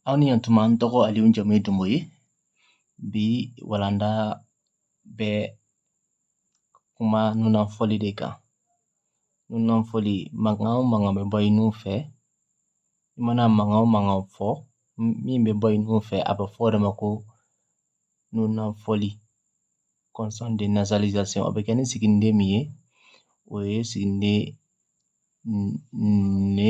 Aw ni yantuma n tɔgɔ aliw jamu ye dunbo ye bi walanda bɛ kuma nunafɔli de kan nunafɔli mankan o mankan bɛ bɔ i nun fɛ i mana mankan o mankan fɔ min bɛ bɔ i nun fɛ a bɛ fɔ o de ma ko nunafɔli consonne de nasalisation o bɛ kɛ ni siginiden min ye o ye siginiden ne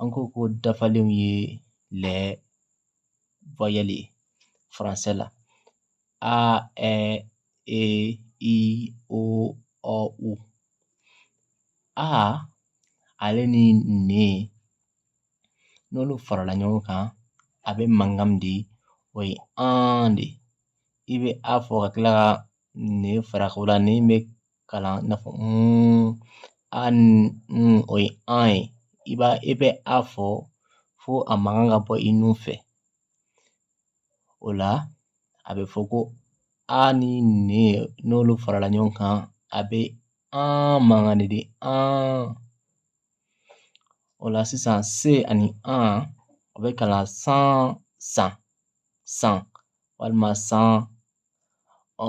an ko ko dafalenw ye les voyelles ye français la a ɛ e i o ɔ u a ale ni ne n'olu farala ɲɔgɔn kan a bɛ mankan min di o ye an de i bɛ a fɔ ka tila ka ne fara o la ne bɛ kalan i n'a fɔ a ni o ye an ye i b'a i bɛ a fɔ fo a mankan ka bɔ i nun fɛ o la a bɛ fɔ ko a ni ne n'olu farala ɲɔgɔn kan a bɛ an mankan de di an o la sisan se ani an o bɛ kalan san san san walima san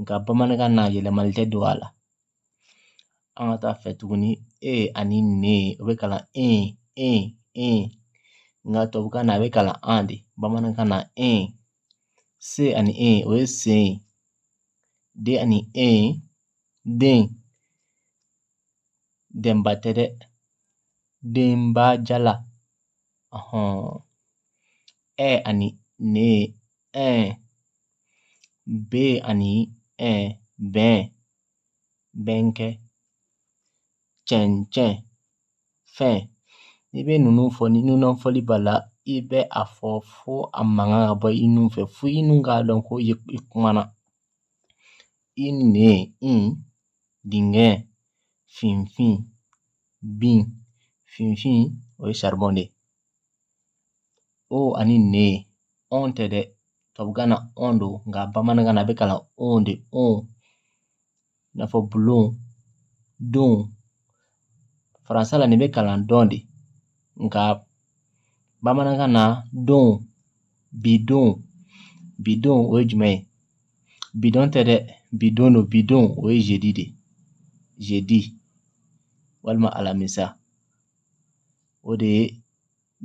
nka bamanankan na yɛlɛmali tɛ don a la an ka taa a fɛ tuguni e ani ne o bɛ kalan en en en nka tubabukan na a bɛ kalan an de bamanankan na en se ani en o ye sen ye de ani en den denba tɛ dɛ denba jala ɛ ani ne ɛn bɛ ani bɛnkɛ cɛncɛn fɛn i bɛ ninnu fɔ ni nunafɔli b'a la i bɛ a fɔ fo a mankan ka bɔ i nun fɛ fo i nun k'a dɔn ko i kumana i ne in dingɛ finfin bin finfin o ye charbon de ye o ani ne ɔn tɛ dɛ tubabukan na ɔn don nka bamanankan na a bɛ kalan on de on i n'a fɔ bulon don français la nin bɛ kalan dɔn de nka bamanankan na don bidon bidon o ye jumɛn ye bidon tɛ dɛ bidon don bidon o ye jeudi de jeudi walima alamisa o de ye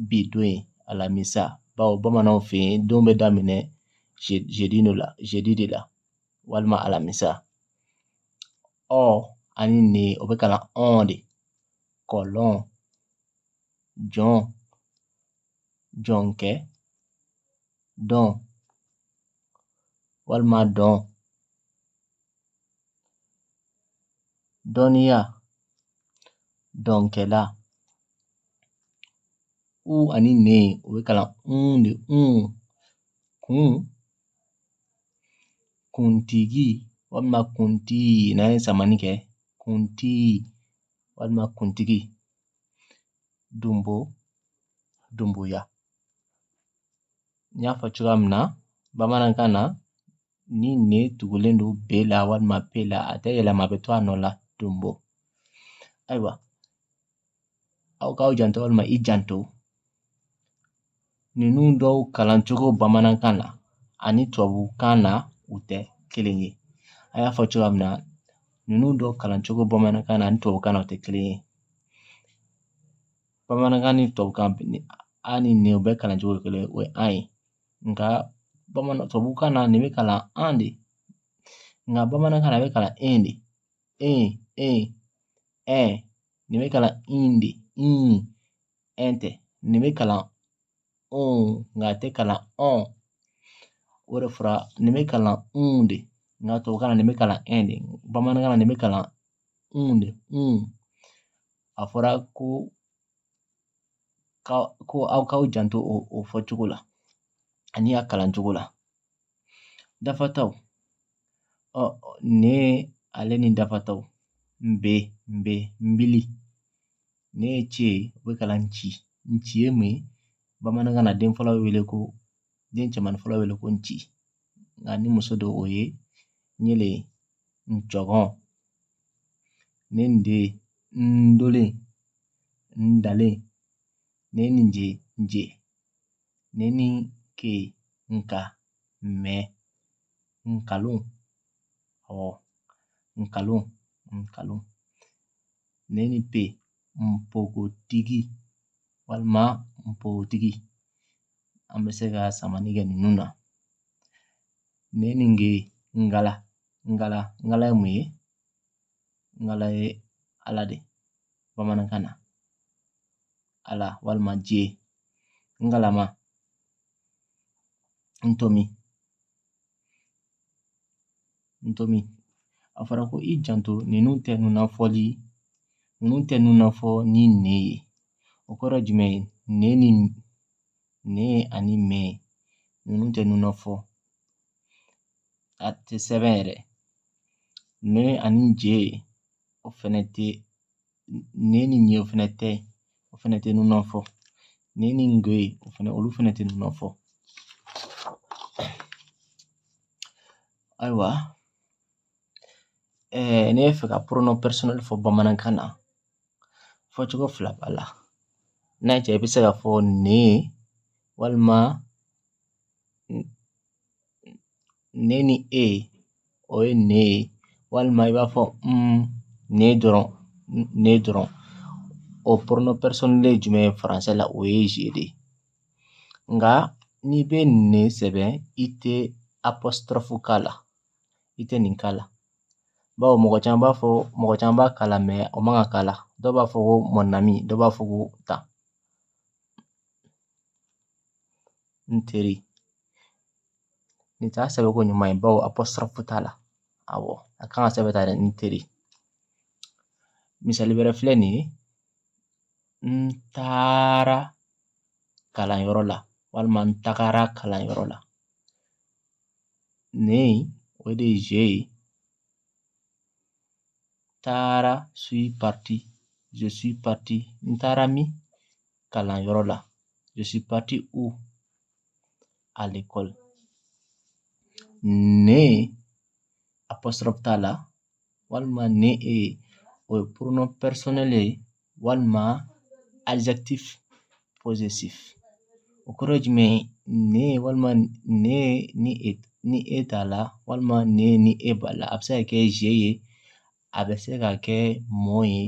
bi don ye alamisa bawo bamananw fɛ yen don bɛ daminɛ jeudi de la walima alamisa ɔ ani ne o bɛ kalan ɔn de kɔlɔn jɔn jɔnkɛ dɔn walima dɔn dɔnniya dɔnkɛla u ani ne o bɛ kalan un de un kun kuntigi walima kuntigi n'an ye samani kɛ kuntigi walima kuntigi dunbo dunboya n y'a fɔ cogoya min na bamanankan na ni ne tugulen don be la walima pe la a tɛ yɛlɛma a bɛ to a nɔ la dunbo ayiwa aw k'aw janto walima i janto ninnu dɔw kalan cogo bamanankan na ani tubabukan na u tɛ kelen ye a y'a fɔ cogoya min na ninnu dɔw kalan cogo bamanankan na ani tubabukan na u tɛ kelen ye bamanankan ni tubabukan a ni ne bɛɛ kalan cogo ye kelen o ye an ye nka bamanan tubabukan na nin bɛ kalan an de nka bamanankan na a bɛ kalan e de e e ɛ nin bɛ kalan in de in tɛ nin bɛ kalan nka a tɛ kalan o de fɔra nin bɛ kalan un de nka tubabukan na nin bɛ kalan e de bamanankan na nin bɛ kalan un de a fɔra ko ko aw k'aw janto o fɔ cogo la ani a kalan cogo la dafataw ne ale ni dafataw nbe nbe nbili ne ni ce o bɛ kalan nci nci ye mun ye bamanankan na den fɔlɔ wele ko den cɛman fɔlɔ wele ko nci nka ni muso don o ye nyele ncɔgɔn ne nde ndolen ndalen ne ni je nje ne ni ke nka mɛ nkalon awɔ nkalon nkalon ne ni pe npogotigi walima npogotigi an bɛ se ka samani kɛ ninnu na ne ni ge ngala ngala ngala ye mun ye ngala ye ala de bamanankan na ala walima dieu ngalama ntomi N to min a fɔra ko i janto ninnu tɛ nunnafɔli ninnu tɛ nunnafɔ ni ne ye o kɔrɔ jumɛn ye ne ni ne ani me ninnu tɛ nunnafɔ a tɛ sɛbɛn yɛrɛ ne ani je o fɛnɛ tɛ ne ni ɲe fɛnɛ tɛ o fɛnɛ tɛ nunnafɔ ne ni nge o fɛnɛ olu fɛnɛ tɛ nunnafɔ ayiwa ɛɛ ne bɛ fɛ ka pronom personnel fɔ bamanankan na fɔcogo fila b'a la n'a y'a diya i bɛ se k'a fɔ ne walima ne ni e o ye ne ye walima i b'a fɔ ne dɔrɔn o pronom personnel ye jumɛn ye faransɛ la o ye je de ye nka n'i bɛ ne sɛbɛn i tɛ apostrophe k'a la i tɛ nin k'a la bawo mɔgɔ caman b'a fɔ mɔgɔ caman b'a k'a la o man kan k'a la dɔw b'a fɔ ko mon ami dɔw b'a fɔ ko tan n teri nin t'a sɛbɛnko ɲuman ye bawo apostrophe t'a la awɔ a kan ka sɛbɛn tan dɛ n teri misali wɛrɛ filɛ nin ye n taara kalanyɔrɔ la walima n tagara kalanyɔrɔ la ne o de ye je ye taara suis parti je suis parti n taara min kalanyɔrɔ la je suis parti où à l'école. Ne apostrophe t'a la walima ne e o ye pronom personnel ye walima adjectif possessif o kɔrɔ ye jumɛn ye ne walima ne ni e t'a la walima ne ni e b'a la a bɛ se ka kɛ je ye a bɛ se ka kɛ mon ye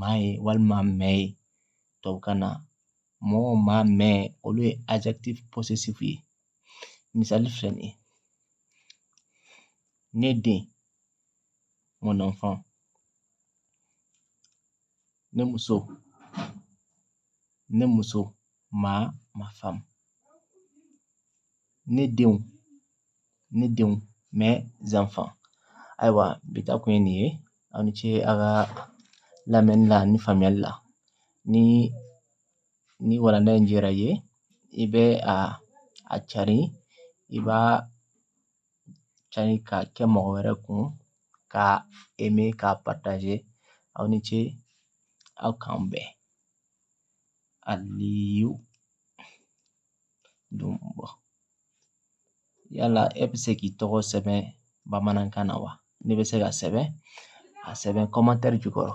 ma ye walima mes ye tubabukan na mɔgɔw ma mɛn olu ye ye misali filɛ nin ye ne den mɔnɔnfan ne muso ne muso ma ma faamu ne denw ne denw mes enfants ayiwa bi ta kun ye nin ye aw ni ce aw ka lamɛnni la ani faamuyali la ni ni walanda in diyara i ye i bɛ a a cari i b'a cari k'a kɛ mɔgɔ wɛrɛ kun k'a aimer k'a partager aw ni ce aw k'an bɛn aliyu don yala e bɛ se k'i tɔgɔ sɛbɛn bamanankan na wa n'e bɛ se k'a sɛbɛn a sɛbɛn commentaire jukɔrɔ